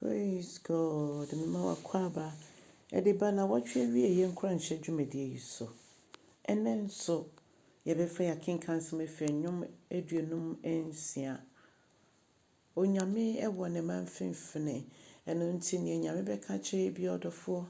Praise God mema w'akwaaba de ba nnawɔtwe awieeɛ nkuranhyɛ dwumadie yi so. Ɛnnɛ nso yɛbɛfa yɛn akenkansɛm afiri Nnwom aduonum nsia. Onyame wɔ ne mma mfimfini, ɛno nti deɛ Nyame bɛka akyerɛ yɛn biara ɔdɔfoɔ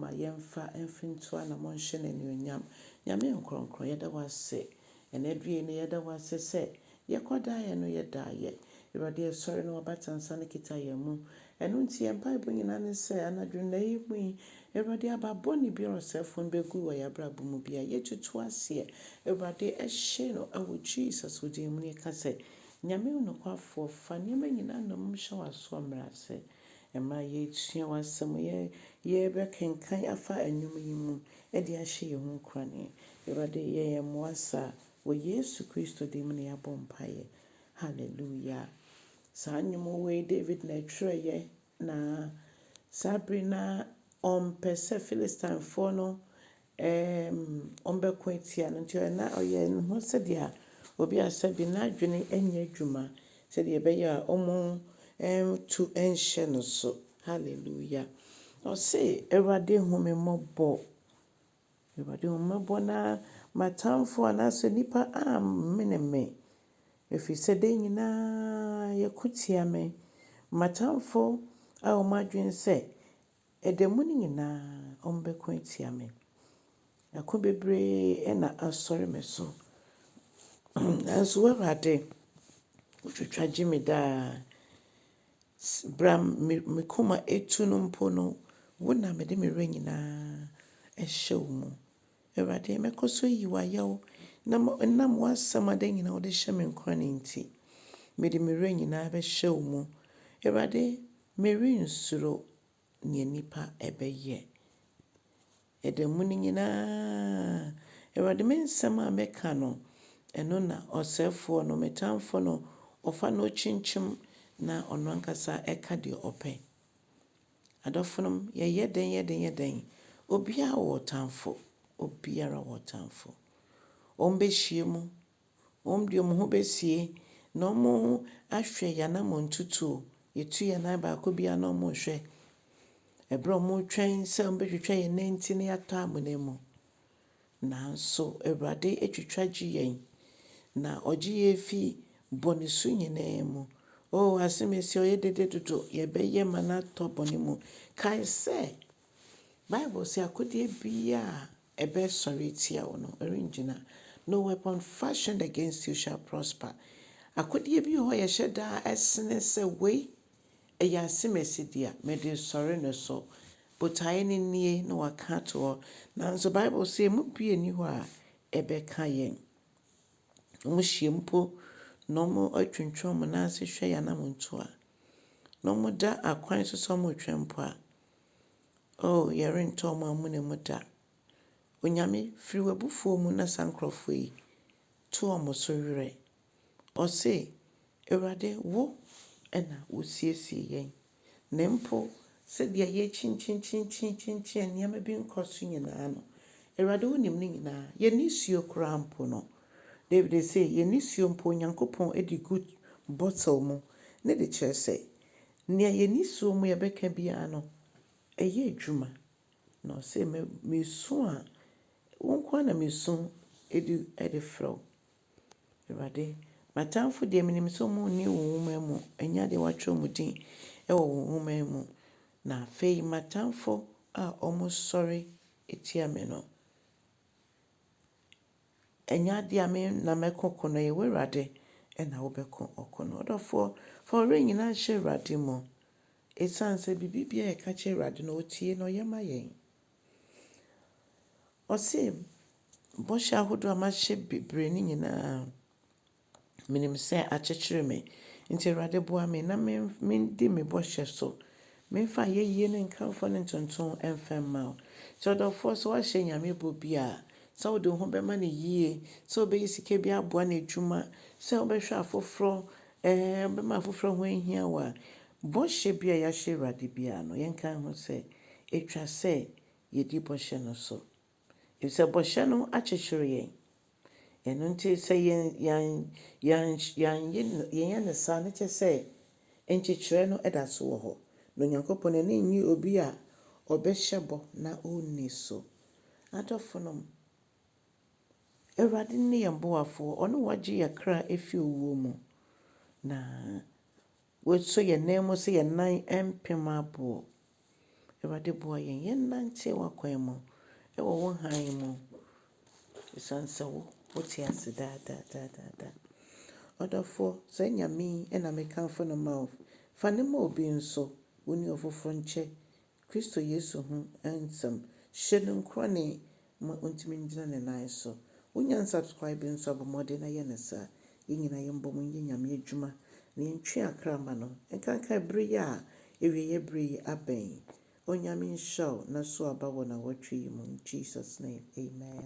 ma yɛmfa mfiri nto anamɔ nhyɛ no anuonyam. Nyame nkorɔnkorɔn yɛda wo ase Ɛnɛ due yi no yɛda wo ase sɛ yɛkɔ daeɛ no yɛ daeɛ. Awurade ɛsɔre na w'abata nsa no kita yɛn mu. Ɛno nti yɛn mpaebɔ nyinaa ne sɛ anadwo nnɛ yi mu yi Awurade aba bɔne biara ɔsɛefo no bɛgu wɔ yɛn abrabɔ mu biara yɛtutu aseɛ Awurade ɛhye no wɔ Jesus wo din mu na yɛka sɛ Nyame onokwafoɔ fa nneɛma nyinaa nnommum hyɛ w'asoɔ mmrɛ ase ma yɛsua w'asɛm yɛ yɛbɛkenkan afa nnwom yi mu de ahyɛ yɛn ho nkuran. Awurade, yɛ yɛn mmoa saa. Wɔ Yesu Kristo din mu na yɛabɔ mpaeɛ. Hallelujah. Saa nnwom wei David na ɛtwerɛeɛ na saa bere no ara ɔmpɛ sɛ Philistinefoɔ no um, wɔbɛko atia no nti na ɔyɛ ne ho sɛdeɛ obi a sɛbi n'adwene nyɛ adwuma sɛdeɛ ɛbɛyɛ a wɔn um, tu nhyɛ no so. Hallelujah ɔse awurade hu me mmɔbɔ. Awurade hu me mmɔbɔ na m'atamfoɔ anaasɛ nnipa ammene me. Ɛfiri sɛ da nyinaa yɛko tia me. M'atamfoɔ a wɔn adwene sɛ ɛda mu no nyinaa wɔbɛko atia me. Ɛko bebree na asɔre me so. Nanso wo awurade wotwitwa gye me daa. Bra me koma atu no mpo no, wo na mede me werɛ nyinaa hyɛ wo mu. Awurade, mɛkɔ so ayi wo ayɛ o, na ɛnam w'asɛm a da nyinaa wode hyɛ me nkuran nti, mede me werɛ nyinaa bɛhyɛ wo mu. Awurade, merensuro. nea nnipa bɛyɛ. Ɛda mu no nyinaa, Awurade, me nsɛm a meka no, ɛno na ɔsɛefoɔ no, me tamfo no, ɔfa na ɔkyinkyim, na ɔno ankasa ka deɛ ɔpɛ. Adɔfonom, yɛyɛ dɛn yɛ dɛn yɛ dɛn? Obiara wɔ ɔtamfo. Obiara wɔ ɔtamfo. Wɔbɛhyia mu Hom de hom ho besie na wɔahwɛ hɛn amontutu o, yetu hɛn nan baako biara na wɔrohwɛ ber a wɔrotwɛn sɛ wɔbɔtwitwa hɛn nantsir na yɛatɔ amona mu. Naaso Ewuradze etwitwa gye hɛn, na ɔgye hɛn fi bɔn su nyina mu. O Asɛmasi a ɔyɛ dede dodo, yɛbɛyɛ ma no atɔ bɔn mu. Kae sɛ, Bible se akodze biara a ɛbɛsɔre atia wo no, ɛrengyina. No weapon fashioned against you shall prosper. Akodeɛ bi wɔ hɔ a yɛhyɛ da sene sɛ wei ɛyɛ asemasi dea, mede resɔre no so. Botaeɛ no nie na wɔaka ato hɔ. Nanso Bible sɛ ɛmu bi nni hɔ a ɛbɛka yɛn. Wɔhyia mpo na wɔatwintwam wɔn nan ase hwɛ yɛn anammɔntuo a, na wɔda akwan so sɛ wɔretwɛn mpo a, Oh, yɛrentɔ ɔmo amona mu da. Onyame, firi w'abufuo mu na saa nkorɔfoɔ yi to ɔmo so werɛ. Ɔse, Awurade, Wo na Wosiesie yɛn. Na mpo sɛdeɛ yɛakyinkyinkyinkyinkyin a nneɛma bi nkɔ so nyinaa no, Awurade Wonim ne nyinaa. Yɛn nisuo koraa mpo no, David se, yɛn nisuo mpo Onyankopɔn de gu bottle mu ne de kyerɛ sɛ, Nea yɛn ani sɔ mu yɛbɛka biara no, ɛyɛ adwuma. Na ɔse, me, mesu a, wo nko ara na mesu de, de frɛ wo. Awurade, m'atamfo deɛ, menim sɛ wɔnni wo nwoma mu, ɛnyɛ adeɛ wɔatwerɛ wɔn din wɔ wo nwoma mu. Na afei m'atamfo a wɔsɔre tia me no, Ɛnyɛ adeɛ a me na mɛko ko no, ɛyɛ w'Awurade na wobɛko ɔko no. Ɔdɔfoɔ, fa wo werɛ nyinaa nhyɛ Awurade mu, ɛsiane sɛ biribiara a yɛka kyerɛ Awurade no, ɔtie na ɔyɛ ma yɛn. Ɔse, bɔhyɛ ahodoɔ a mahyɛ bebree no nyinaa, Menim sɛ akyekyere me. Nti Awurade boa me na mendi me bɔhyɛ so. Memfa ayɛyie ne nkamfoɔ ne ntonto mfa mma wo. Nti ɔdɔfoɔ sɛ woahyɛ Nyame bɔ bi a, sɛ wode wo ho bɛma no yie, sɛ wobɛyi sika bi aboa n'adwuma, sɛ wobɛhwɛ afoforɔ, ɛɛ wobɛma afoforɔ a ho ahia wo a, bɔhyɛ bi a yɛahyɛ Awurade biara no, yɛnkae ho sɛ ɛtwa sɛ yɛdi bɔhyɛ no so. Efisɛ bɔhyɛ no akyekyere yɛn. Ɛno nti sɛ yɛn yɛn yɛn yɛanyɛ no yɛnyɛ no saa no kyerɛ sɛ nkyekyerɛ no da so wɔ hɔ. Na Onyankopɔn n'ani nnye obi a ɔbɛhyɛ bɔ na onni so. Adɔfonom, Awurade ne yɛn boafoɔ, ɔno na ɔgye yɛn kra fi owuo mu, na Wei so yɛ nan mu sɛ yɛn nan mpem aboɔ. Awurade boa yɛn yɛn nante w'akwan mu wɔ wo hann mu ɛsiane sɛ wo wo te ase daa daa daa daa daa. Ɔdɔfoɔ saa Nyame yi na me kamfo no ma wo. Fa no ma obi nso, wo ne ofoforɔ nkyɛ Kristo Yesu ho nsɛm, hyɛ no nkurane ma ɔntumi ngyina ne nan so. Wonya unsubscribe nso a bɔ mmɔden na yɛ no saa. Yɛn nyinaa yɛmbɔ mu nyɛ Nyame adwuma na yɛntwe akra mma no nkanka bere yi a awieɛ bere yi abɛn. Onyame nhyira wo na so aba wɔ nawɔtwe yi mu in Jesus name, amen.